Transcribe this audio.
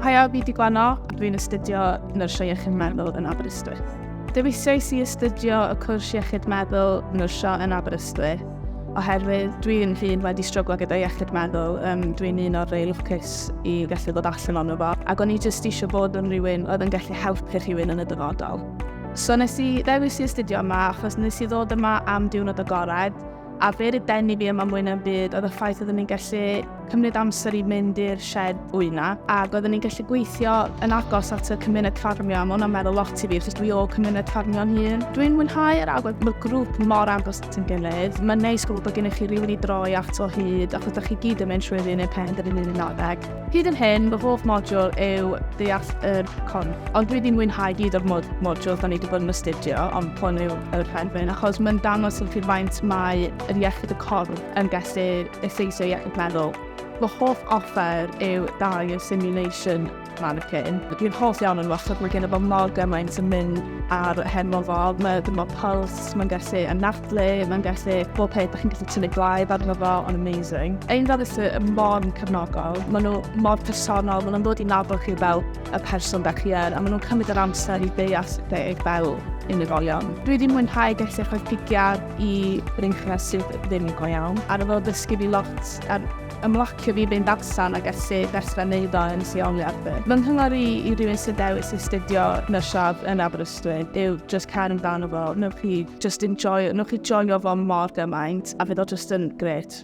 Haia, fi di Gwenno, dwi'n astudio Nyrsio Iechyd Meddwl yn Aberystwyth. Dewisiais i astudio y cwrs Iechyd Meddwl Nyrsio yn Aberystwyth oherwydd dwi'n hun wedi stryglo gyda iechyd meddwl, um, dwi'n un o'r rei lwcus i gallu ddod allan o'n fo, ac o'n i jyst eisiau bod yn rhywun oedd yn gallu helpu rhywun yn y dyfodol. So nes i ddewis i astudio yma achos nes i ddod yma am diwrnod agored, A be oedd denu fi yma mwy na'm byd oedd y ffaith oeddwn i'n gallu cymryd amser i mynd i'r shed wyna ac oeddwn i'n gallu gweithio yn agos at y cymuned ffarmio a mae hwnna'n meddwl lot i fi achos dwi o cymuned ffarmio'n hun. Dwi'n mwynhau yr agwedd, mae'r grŵp mor agos at yn gilydd. Mae'n neis gwybod bod gennych chi rhywun i droi ato hyd achos da chi gyd yn mynd trwy'r un un pen yr un un adeg. Hyd yn hyn, fy hoff modiwl yw deall yr con. Ond dwi wedi mwynhau gyd o'r mod modiwl da ni wedi bod yn astudio, ond pon yw yr rhefyn, achos mae'n dangos yn chi faint mae yr iechyd y corn yn gallu effeithio iechyd meddwl. Fy hoff offer yw dau o simulation mannequin. Dwi'n hoff iawn o'n wastad, mae gen i fo mor gymaint yn mynd ar hen mofal, mae dyma pulse, It's, mae'n gallu anadlu, mae'n gallu bob peth, da chi'n gallu tynnu blaen arno fo, ond amazing. Ein fel ys y mon cefnogol, maen nhw mor personol, maen nhw'n dod i nabod chi fel y person da chi er, a maen nhw'n cymryd yr amser i ddeall chi fel unigolion. Dwi wedi mwynhau gallu rhoi pigiad i rinchau sydd ddim go iawn, a rwy'n ddysgu fi lot ar ymlacio fi fynd allan a gallu dechrau neud o yn lleoliad fi. Fy nghyngor i i rywun sy'n dewis astudio nyrsio yn Aberystwyth Dwyn yw just cael yn dan o fo, newch chi just enjoy, newch chi joio fo mor gymaint, a fydd o just yn gret.